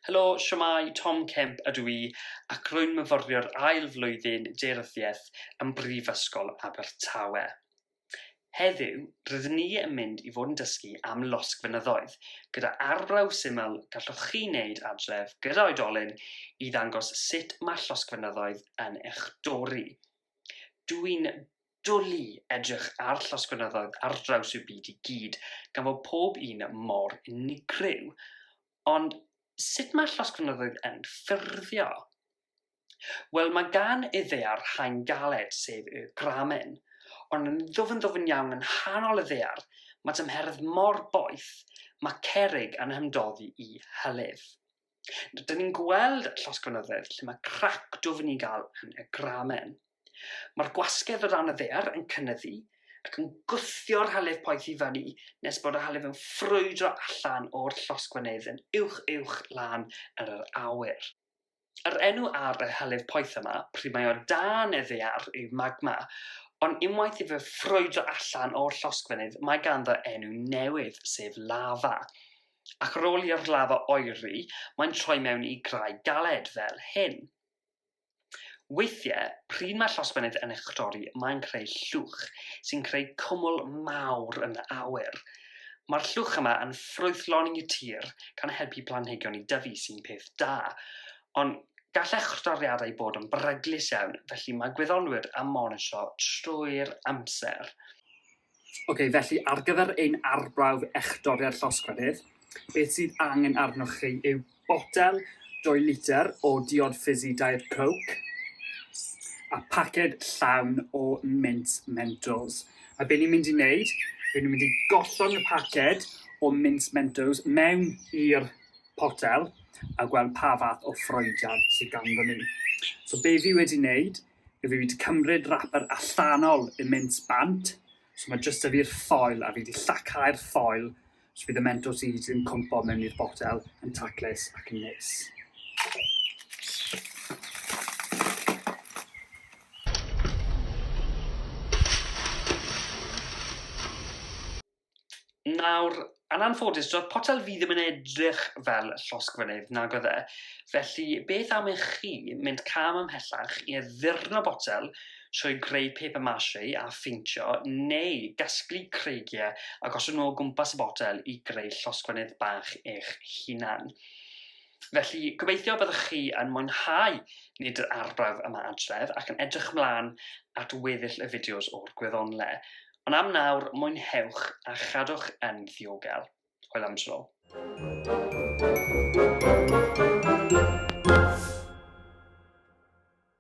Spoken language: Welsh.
Helo, siwmai, Tom Kemp ydw i ac rwy'n myfyriwr ail flwyddyn Deyryddiaeth ym Mhrifysgol Abertawe. Heddiw, rydyn ni yn mynd i fod yn dysgu am losg fynyddoedd, gyda arbrawf syml gallwch chi wneud adref gyda oedolyn i ddangos sut mae llosg fynyddoedd yn eich dorri. Dw i'n dwlu edrych ar llosg fynyddoedd ar draws y byd i gyd, gan fod pob un mor unigryw. Ond sut mae llosg fynyddoedd yn ffurfio? Wel, mae gan iddear haen galed, sef y gramen, ond yn ddwfn ddwfn iawn yn nghanol y ddear, mae tymheredd mor boeth, mae cerrig yn hymdoddi i hylif. Dyn ni'n gweld llosgfynyddedd lle mae crac dwfn i gael yn y gramen. Mae'r gwasgedd o dan y ddear yn cynnyddu ac yn gwthio'r hylif poeth i fyny nes bod y hylif yn ffrwydro allan o'r llosgfynydd yn uwch uwch lan yn yr awyr. Yr enw ar y hylif poeth yma, pryd mae o dan y ddaear, yw magma, ond unwaith i fe ffrwydro allan o'r llosgfynydd mae ganddo enw newydd, sef lafa. Ac ar ôl i'r lafa oeri, mae'n troi mewn i graig galed, fel hyn. Weithiau, pryd mae llosgfynydd yn echdori, mae'n creu llwch sy'n creu cwmwl mawr yn awyr. Mae'r llwch yma yn ffrwythloni'r tir gan helpu planhigion i dyfu sy'n peth da, ond gall echrdoriadau bod yn beryglus iawn, felly mae gwyddonwyr am monitro trwy'r amser. Ok, felly ar gyfer ein arbrawf echdoriad llosgfeydd, beth sydd angen arnoch chi yw botel dwy litr o diod ffisi Diet Coke a paced llawn o mints Mentos. A be ni'n mynd i wneud, rydyn ni'n mynd i gollwng y paced o mints Mentos mewn i'r potel a gweld pa fath o ffroediad sydd ganddo ni. So be fi wedi wneud, fi wedi cymryd rapper allanol y mints bant, so mae jyst y fi'r ffoil a fi wedi llacau'r ffoil Felly bydd y mentor seeds yn cwmpo mewn i'r botel yn taclus ac yn neis. Nawr, yn anffodus, doedd potel fi ddim yn edrych fel llosg fynydd, nag oedd e. Felly, beth am i chi mynd cam ymhellach i addurno botel trwy greu paper mache a pheintio neu gasglu creigiau a gosod nhw o gwmpas y botel i greu llosgfynydd bach eich hunan. Felly, gobeithio byddwch chi yn mwynhau nid yr arbrawf yma adref ac yn edrych mlaen at weddill y fideos o'r gwyddonle. Ond am nawr, mwynhewch a chadwch yn ddiogel. Hwyl am tro. Thank you.